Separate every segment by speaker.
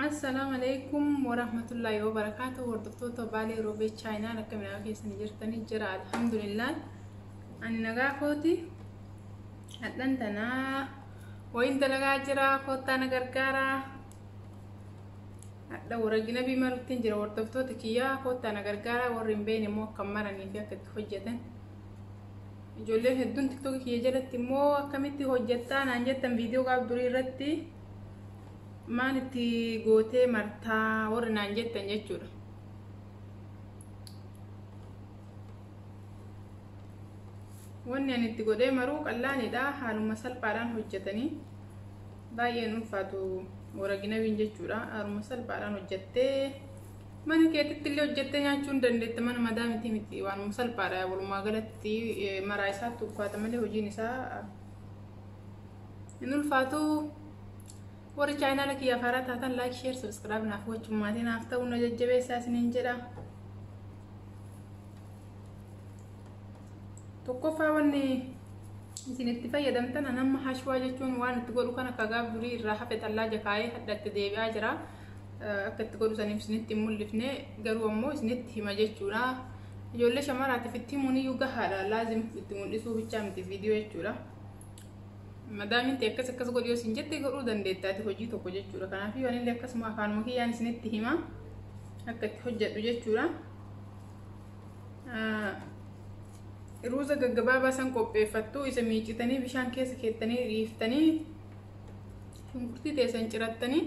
Speaker 1: Assalaamu alaikum warahmatullaahi wabarakaatu hordoftoota baalee roobee chaayinaa akka midhaa keessanii jirtanii jira alhamdulillah ani nagaa kooti hadhan tanaa wayin dalagaa jira koottaa na gargaara hadha waragina biima ruttiin jira hordoftoota kiyyaa koottaa na gargaara warri hin beekne immoo akka maranii fi akka itti hojjetan Ijoolleen hedduun tiktookii kiyya jalatti immoo akkamitti hojjettaa naan jettan viidiyoo gaaf durii irratti maal itti gootee martaa warri naan jettan jechuudha. Wanni ani itti godhee maruu qallaanidha haaluma salphaadhaan hojjetanii baay'een ulfaatu waraginabiin jechuudha haaluma salphaadhaan hojjettee Mana keetitti illee hojjettee nyaachuu hin dandeetta mana madaa miti miti waanuma salphaadha walumaa galatti maraa isaatti ulfaata malee hojiin isaa hin ulfaatu warri chaayinaala kiyyaaf haaraa taatan laayik sheer sabiskiraayib naaf gochuun maatii naaf ta'uu na jajjabeessaa isiniin jedha. Tokkoffaa wanni isin itti fayyadamtan anamma hashwaa jechuun waan itti godhu kana kagaa durii irraa hafe xallaa jakaa'ee hadhatti deebi'aa jira. akka itti godhu saniif isinitti hin mul'ifne garuu ammoo isinitti hima jechuudha. Ijoollee shamaraatiif itti himuun iyyuu gahaadha laazim itti mul'isuu bichaa miti viidiyoo jechuudha. Madaamin ta'e akkas akkas godhi yoo isin jette godhuu dandeettaati hojii tokko jechuudha. Kanaaf yoo anillee akkasuma afaanuma kiyyaan isinitti hima akka itti hojjedhu jechuudha. Ruuza gaggabaabaa san qopheeffattu isa miicitanii bishaan keessa keettanii dhiiftanii Shunkurtii teessan cirattanii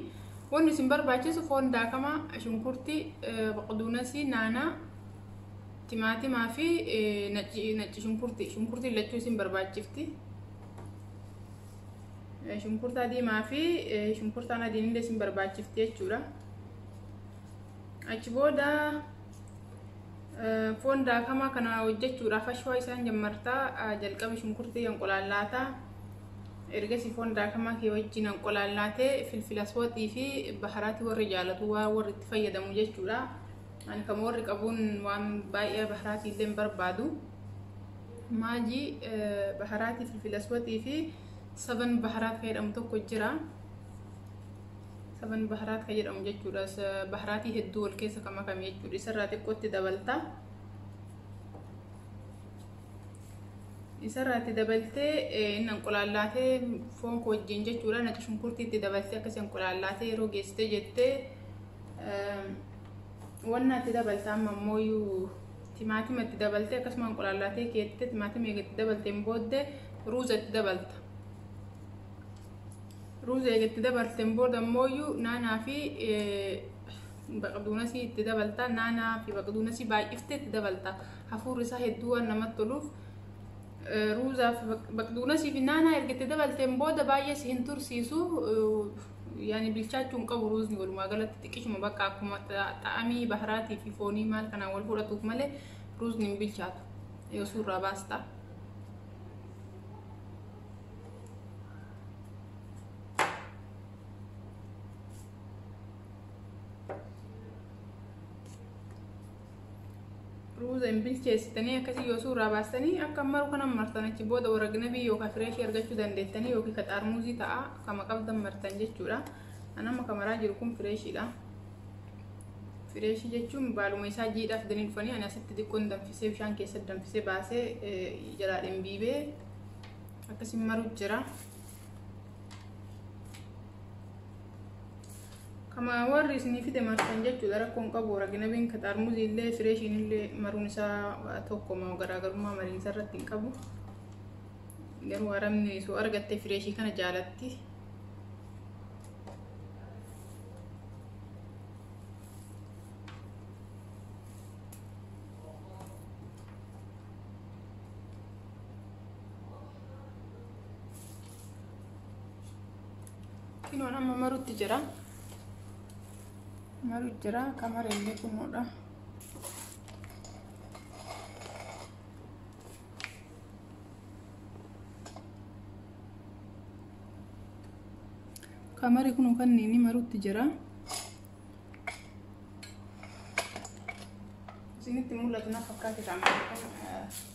Speaker 1: wanni isin barbaachisu foon daakamaa, shunkurtii, baqduunasii, naanaa, timaatimaa fi nacci shunkurtii. Shunkurtiin lachuu isin barbaachifti. Shunkurtaa diimaa fi shunkurtaan adiin illee isin barbaachifti jechuudha. Achi booda foon daakamaa kana hojjechuudhaaf ashwaa isaan jammartaa jalqaba shunkurtii hanqulaallaataa. Ergasii foon daakamaa kee wajjin anqolaallaatee filfilas waxii fi baharaati warri jaalatu waa warri itti fayyadamu jechuudha. Ani kan warri qabuun waan baay'ee baharaatii illee hin barbaadu. Maajii baharaatii filfilas waxii fi saban baharaat kan jedhamu tokko jira. Saban baharaat kan jedhamu jechuudha. Baharaatii hedduu wal keessa kan makame jechuudha. Isarraa xiqqootti dabalta. Isarraatti dabaltee inni anqulaallaatee foon koo wajjin jechuudha naci shunkurtii itti dabaltee akkasii anqulaallaatee yeroo geessitee jettee wannaa itti dabalta amma ammoo iyyuu timaatima itti dabaltee akkasuma anqulaallaatee keettee timaatima eega itti dabalteen booddee ruuza itti dabalta. Ruuza eega itti dabalteen booda ammoo iyyuu naanaa fi baqduunasii itti dabalta naanaa fi baqduunasii baay'ifte itti dabalta hafuurri isaa hedduu waan namatti toluuf ruuzaa fi baqduunasii fi naanaa erga itti dabalteen booda baay'ee si hin tursiisu yaani bilchaachuu hin qabu ruuzni walumaa galatti xiqqishuma bakka akkuma xa'amii baharaatii fi foonii maal kanaan wal fudhatuuf malee ruuzni hin bilchaatu yoo suurraa baastaa. ruuza hin bilcheessitanii akkasii yoo suuraa baastanii akka maru kana martan achi booda waragnabii yookaan fireeshii argachuu dandeettanii yookiin ka xaarmuuzii ta'a kama qabdan martan jechuudha. An amma kamaraa jiru kun fireeshiidha. Fireeshii jechuun baaluma isaa jiidhaa fidanii dhufanii ani asitti xiqqoon danfisee bishaan keessatti danfisee baasee jalaa dhimbiibee akkasii maru jira. Kama warri isinii fide martan jechuudha rakkoon qabu waraginabiin ka xaarmuzii illee fireeshiin illee maruun isaa tokkoma garaagarummaa mariinsa irratti hin qabu. Garuu arabni soo argatte fireeshii kana jaalatti. Kinoon amma marutti jira. Maru jira akka mare illee kunuudha. Kamari kun kan inni marutti jira. Isinitti mul'atu na fakkaate ta'a.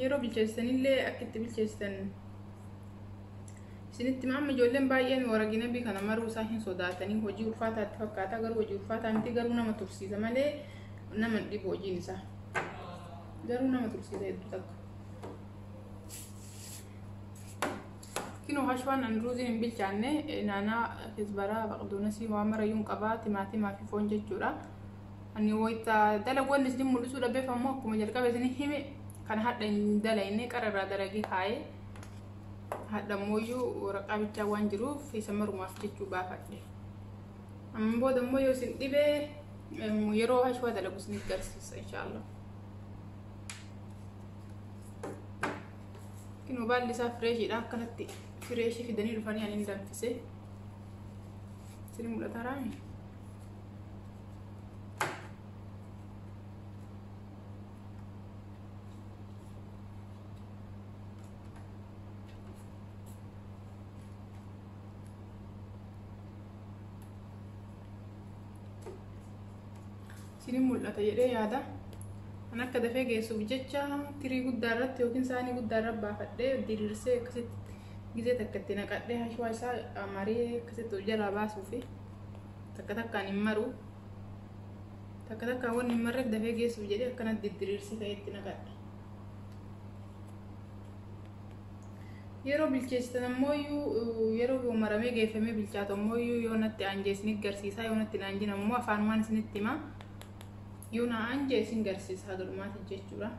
Speaker 1: Yeroo bilcheessitanillee akka itti bilcheessitan isinitti amma ijoolleen baay'een waraginabii kana maruu isaa hin sodaatanii hojii ulfaataatti fakkaata garuu hojii ulfaataa miti garuu nama tursiisa malee nama hin dhibu hojiin isaa garuu nama tursiisa hedduu takka. Kino hashwaan an ruuziin hin bilchaanne naanaa kisbaraa baqdoonasii waan marayyuun qabaa timaatimaa fi foon jechuudha. Ani wayita dalaguu inni isin mul'isuu dhabeef ammoo akkuma jalqaba isin hime kan hadha hin dalagne qara irraa dalagee kaa'ee hadha ammoo waraqaa bichaa waan jiruuf isa marumaaf jechuu baafadhe. Amma booda ammoo yoo isin dhibee yeroo hashwaa dalagu isiniif garsiisa inshaallah. Kinoo baalli isaa fireeshiidha akkanatti fireeshii fidanii dhufanii ani hin danfisee. Isin mul'ata raani? isinin mul'ata jedhee yaada kan akka dafee geessuuf jecha tirii guddaa irratti yookiin saanii guddaa irra baafadhee diriirsee akkasitti gizee takka itti naqadhee hashwaa isaa maree akkasitti jalaa baasuufi. takka takkaan hin maru takka takkaan wanni hin marreef dafee geessuuf jedhee akkanatti diddiriirsee ka'eetti naqadha. Yeroo bilcheessitan ammoo yeroo maramee geeffamee bilchaatu ammoo yoo natti aanjee isin garsiisaa yoo natti aanjin ammoo afaanumaan isinitti himaa yoo na aanjee isin garsiisa haga dhumaatti jechuudha.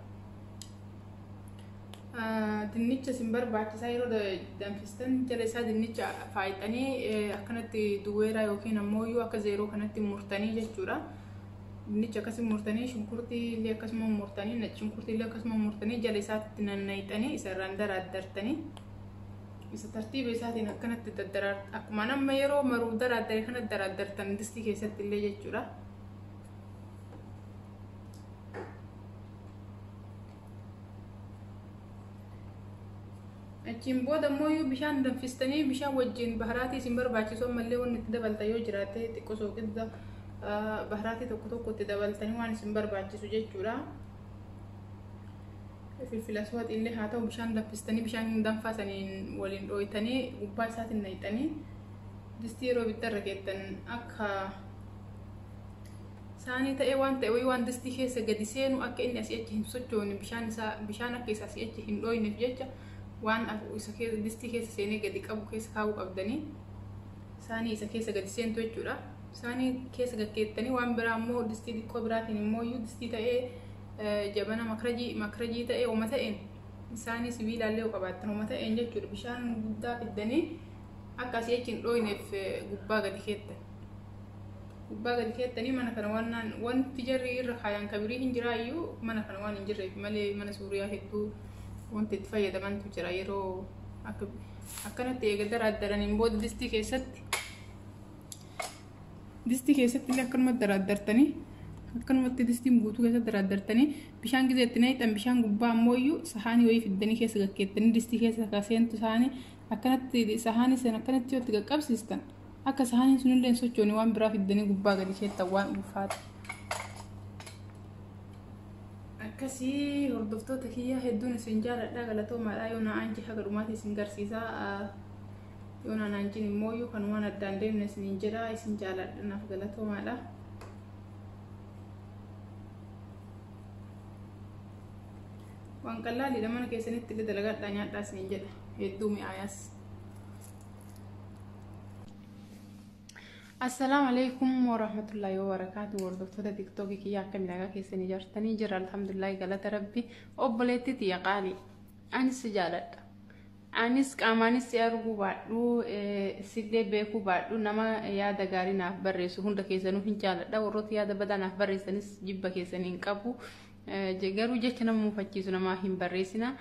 Speaker 1: Dinnicha isin barbaachisaa yeroo danfistan jala isaa dinnicha faayxanii akkanatti duweeraa yookiin ammoo yoo akka zeeroo kanatti murtanii jechuudha. Dinnicha akkasii murtanii shunkurtii illee akkasuma murtanii nacci shunkurtii illee akkasuma murtanii jala isaatti nannayxanii isa irraan daraaddartanii isa tartiiba isaatiin akkanatti daddaraar akkuma amma yeroo maruu daraaddare kana daraaddartan distii keessatti illee jechuudha. achiin booda immoo yoo bishaan danfistanii bishaan wajjin baharaatii isin barbaachisu ammallee wanni itti dabaltan yoo jiraate xiqqoo sooqidda baharaatii tokko tokko itti dabaltanii waan isin barbaachisu jechuudha. Filfilas waxiillee haa ta'u bishaan danfistanii bishaan danfaa saniin waliin dhooytanii gubbaa isaatiin naqxanii distii yeroo ibiddarra keessan akka Saanii ta'ee waan ta'e wayii waan distii keessa gadi seenu akka inni asii achi hin sochoone bishaan isaa bishaan akka isa asii achi hin dhooyneef jecha waan isa keessa distii keessa seenee gadi qabu keessa kaa'uu qabdanii saanii isa keessa gadi seentu jechuudha. Saanii keessa gaggeettanii waan biraa immoo distii xiqqoo biraatiin immoo iyyuu distii ta'ee jabana makrajii makrajii ta'ee homa ta'een saanii sibiilaallee yoo qabaattan homa ta'een jechuudha bishaan guddaa fiddanii akka asii achi hin dhooyneef gubbaa gadi keettan. gubbaa gadi keessanii mana kana waan naan wanti jarri irra kaayaan kabirii hin jiraa iyyuu mana kana waan hin jirreef malee mana suuriyaa hedduu wanti itti fayyadamantu jira yeroo akka akkanatti eega daraaddaraniin booda distii keessatti distii keessatti illee akkanumatti daraaddartanii akkanumatti distiin guutuu keessatti daraaddartanii bishaan gizee itti naqxan bishaan gubbaa ammoo iyyuu sahaanii wayii fiddanii keessa gaggeettanii distii keessa akka seentu sahaanii akkanatti sahaanii san akkanatti yoo itti qaqqabsiistan akka sahaaniin sunillee hin sochoone waan biraa fiddanii gubbaa gadi keettan waan ulfaata. Akkasii hordoftoota kiyyaa hedduun isin jaaladha galatoomaadha yoo na aanjii haga dhumaatti isin garsiisaa yoo na aanjiin immoo yoo kan waan addaan deemne isiniin jedha isin jaaladha naaf galatoomaadha. Waan qallaaliidha mana keessanitti illee dalagadhaa nyaadhaa isiniin jedha hedduu mi'aayaas. Assalaamu alaikum warahmatullahi wabarakatuh hordoftoota tiktookii kiyya akka midhagaa keessanii jirtanii jira alhamdulillahi galata rabbi obboleetti tiyya qaali anis si jaaladha anis qaamaanis si arguu baadhu sillee beekuu baadhu nama yaada gaarii naaf barreessu hunda keessanuu hin jaaladha warroota yaada badaa naaf barreessanis jibba keessanii hin qabu Garuu jecha nama mufachiisu namaa hin barreessina.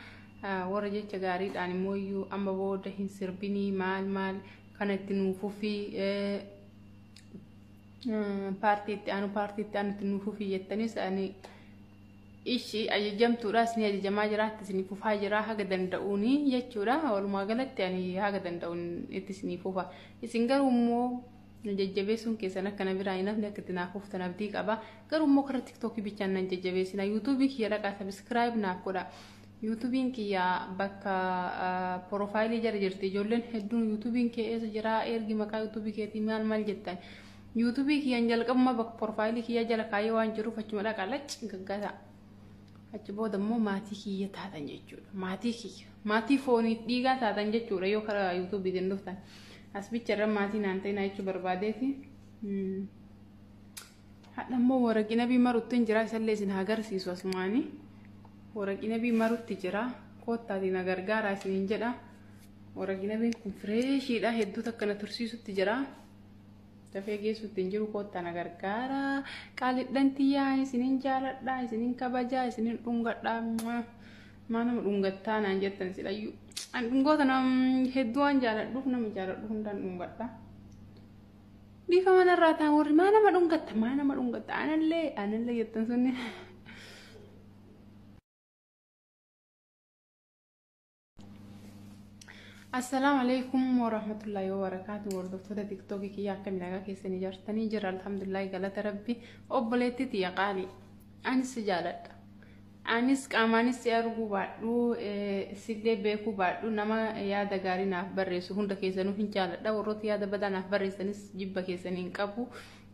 Speaker 1: Warra jecha gaariidhaan immoo iyyuu amma booda hin sirbinii maal maal kana itti nuuf fufii paartii itti aanu paartii itti aanu itti nuuf fufii jettanis ani ishi ajajamtuudha isin ajajamaa jira itti isin fufaa jira haga danda'uuni jechuudha walumaa galatti ani haga danda'uun itti isin fufa isin garuu immoo na jajjabeessuun keessan akka na biraa hin hafne akka itti naaf huftan abdii qaba garuu immoo karaa tiktookii bichaan nan jajjabeessina yuutuubii kiyya dhaqaa sabiskiraayib naaf godha yuutuubiin kiyya bakka porofaayilii jala jirti ijoolleen hedduun yuutuubiin kee eessa jira ergi maqaa yuutuubii keetii maal maal jettan yuutuubii kiyyaan jalqabuma bakka porofaayilii kiyya jala kaayee waan jiruuf achuma dhaqaa lacci gaggaasa. Achi booda immoo maatii kiyya taatan jechuudha. Maatii kiyya. Maatii foonii dhiigaa taatan jechuudha yoo karaa yuutuubiitiin dhuftan. As bicha irra maatii naan ta'inaa jechuu barbaadeeti. Hadha immoo waraqii nabii marutti hin jira isallee isin haa garsiisu asumaanii. Waraqii nabii marutti jira. Koottaatiin na gargaaraa isin hin jedha. Waraqii nabiin kun fireeshiidha hedduu takka na tursiisutti jira. Dafee geessuutti hin jiru koottaa na gargaara. Qaalidhan tiyyaa isinin jaaladha, isinin kabajaa, isinin dhungadha. Maa nama dhungattaa naan jettan silayyuu. An dhungoota nam hedduu waan jaaladhuuf nama jaaladhu hundaan dhungadha. Bifa manarraa ta'an warri maa nama dhungatta, maa nama dhungatta, anallee, anallee jettan sunni. Assalaamu alaikum warahmatullahi wabarakaatu hordoftoota tiktookii kiyya akka midhagaa keessanii jirtanii jira alhamdulillahi galata rabbi obboleetti tiyya qaali anis si jaaladha anis qaamaanis si arguu baadhu sillee beekuu baadhu nama yaada gaarii naaf barreessu hunda keessanuu hin jaaladha warroota yaada badaa naaf barreessanis jibba keessanii hin qabu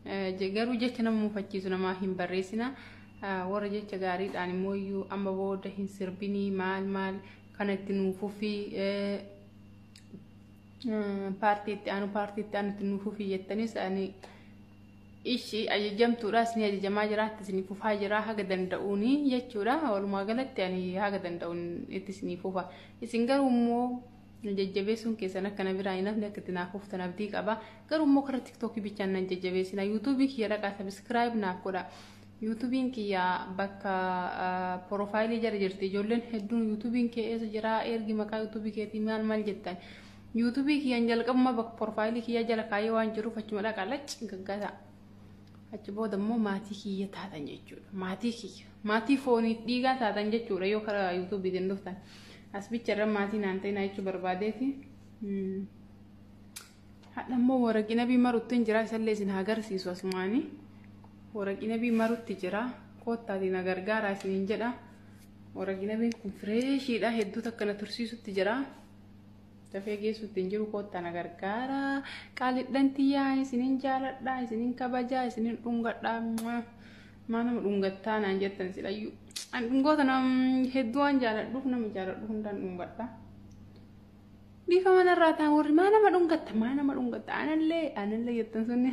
Speaker 1: Garuu jecha nama mufachiisu namaa hin barreessina. Warra jecha gaariidhaan immoo iyyuu amma booda hin sirbinii maal maal kana itti nuuf fufii paartii itti aanu paartii itti aanu itti nuuf fufii jettanis ani ishi ajajamtuudha isin ajajamaa jira itti isin fufaa jira haga danda'uuni jechuudha walumaa galatti ani haga danda'uun itti isin fufa isin garuu immoo na jajjabeessuun keessan akka na biraa hin hafne akka itti naaf huftan abdii qaba garuu immoo karaa tiktookii bichaan nan jajjabeessina yuutuubii kiyya dhaqaa sabiskiraayib naaf godha yuutuubiin kiyya bakka porofaayilii jala jirti ijoolleen hedduun yuutuubiin kee eessa jira ergi maqaa yuutuubii keetii maal maal jettan yuutuubii kiyyaan jalqabuma bakka porofaayilii kiyya jala kaayee waan jiruuf achuma dhaqaa lacci gaggata. achi booda immoo maatii kiyya taatan jechuudha. Maatii kiyya. Maatii foonii dhiigaa taatan jechuudha yoo karaa yuutuubiitiin dhuftan. As bicha irra maatii naan ta'inaa jechuu barbaadeeti. Hadha immoo waraqii nabii marutti hin jira isallee isin haa garsiisu asumaanii. Waraqii nabii marutti jira. Koottaati na gargaaraa isin hin jedha. Waraqii nabiin kun fireeshiidha hedduu takka na tursiisutti jira. Dafee geessuutti hin jiru koottaa na gargaara. Qaalidhan tiyyaa isinin jaaladha, isinin kabajaa, isinin dhungadha. Maa nama dhungattaa naan jettan silayyuu. An dhungoota nam hedduu waan jaaladhuuf nama jaaladhu hundaan dhungadha. Bifa manarraa ta'an warri maa nama dhungatta, maa nama dhungatta, anallee, anallee jettan sunni.